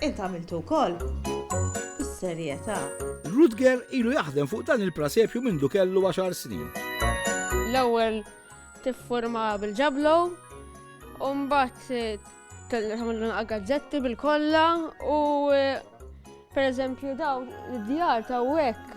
Int għamiltu wkoll? Bis-serjetà. Rutger ilu jaħdem fuq dan il-prasepju mindu kellu għaxar snin. L-ewwel tiffurma bil-ġablo, u mbagħad eh, tagħmlu gazzetti bil-kollha u eh, pereżempju daw id-djar ta' hekk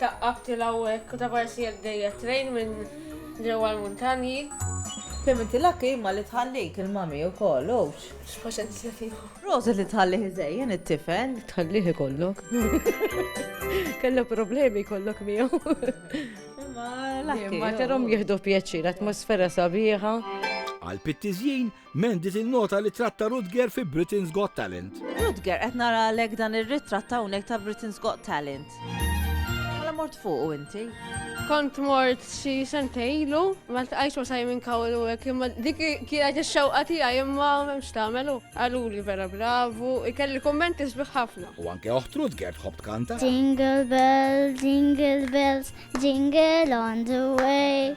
Taqqabtilha hawnhekk u ta' parsi jekk ġejja t-train minn ġewwa l-muntanji. Kemm inti lucky imma li tħallik il-mommy ukoll, ouch! X'paċenzja tiegħu. Proset li tħallih iżejjen it-tifel. Tħallih ikollok. Kellha problemi jkollok miegħu. Imma lucky. Imma tarhom jieħdu pjaċir, atmosfera sabiħa. Għall-pittiżjin, Mandy tinnota ritratt ta' Rutger fi Britain's Got Talent. Rutger, qed nara għalhekk dan ir-ritratt hawnhekk ta' Britain's Got Talent. Mela mort fuqu inti? Kont mort xi sentej ilu, ma tqajx ma Simon Cowell u hekk imma dik kienet ix-xewqa tiegħi imma m'hemmx tagħmelu. Qaluli vera bravu, ikelli kummenti sbieħ ħafna. U anke oħt Rutger tħobb tkanta. Jingle bells, jingle bells, jingle on the way.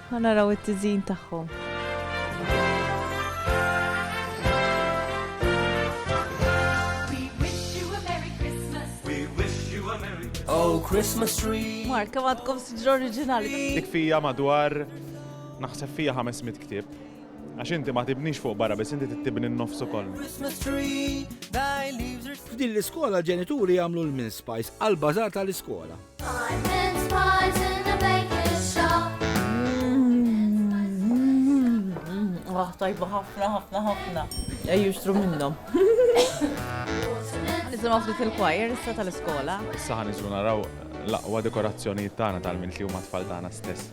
Ħa naraw it-tiżjin tagħhom. Oh, Christmas tree. Mark, kemm għadkom siġra oriġinali. Dik fija madwar naħseb fija 500 ktieb. Għax inti ma tibnix fuq barra, biss inti tibni n-nofs ukoll. F'din l-iskola ġenituri jagħmlu l-min spice għal bażar tal-iskola. Ah, tajba ħafna, ħafna, ħafna. Ejju xtru minnom. Nisimgħu ftit il-choir issa tal-iskola. Issa ħan naraw l-aqwa dekorazzjonijiet tagħna tal-minn li huma tfal tagħna stess.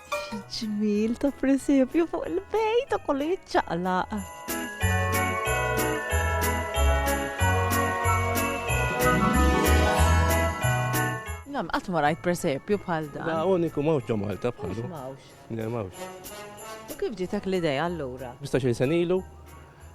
Ġmil ta' presepju fuq il-bej ta' kollu jitċaqlaq. Nam, qatt ma rajt presepju bħal dan. Da uniku mawx ġo Malta bħalu. Mawx. Mawx. U kif ġitek l-idea allura? 15 sen ilu,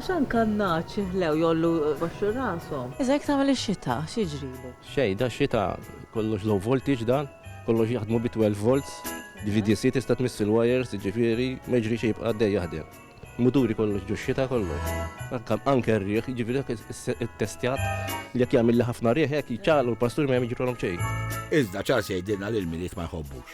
X'għan kannaċ jihlew jgħollu jbaxxu rashom. Iżda jekk tagħmel ix-xita, x'jiġrilu? Xejn, dax-xita kollox low voltage dan, kollox jaħdmu bi 12 volts, b'VDC tista' tmiss il-wires, jiġifieri ma jiġri xejn jibqa' għaddej jaħdem. Muturi kollox ġo x-xita kollox. Anke anke r-riħ, jiġifieri dak ittestjat li jekk jagħmilli ħafna riħ hekk jċagħalqu l-pastur ma jagħmel jiġrolhom xejn. Iżda ċars jgħidilna li l-Milied ma jħobbux.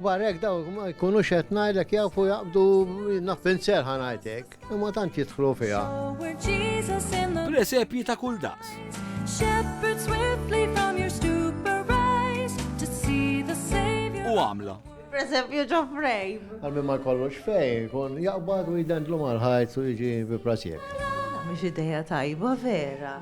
Barra hekk daw ma jkunux qed ngħidlek jafu jaqbdu naffin serħa ngħidlek, imma tant jidħlu fiha. Presepji ta' kull daqs. U għamla. Presepju ġo frame. Għalmi ma kollox fej, kun jaqbad u jidendlu mal-ħajt u jġi bi presepju. Mux ideja tajba vera.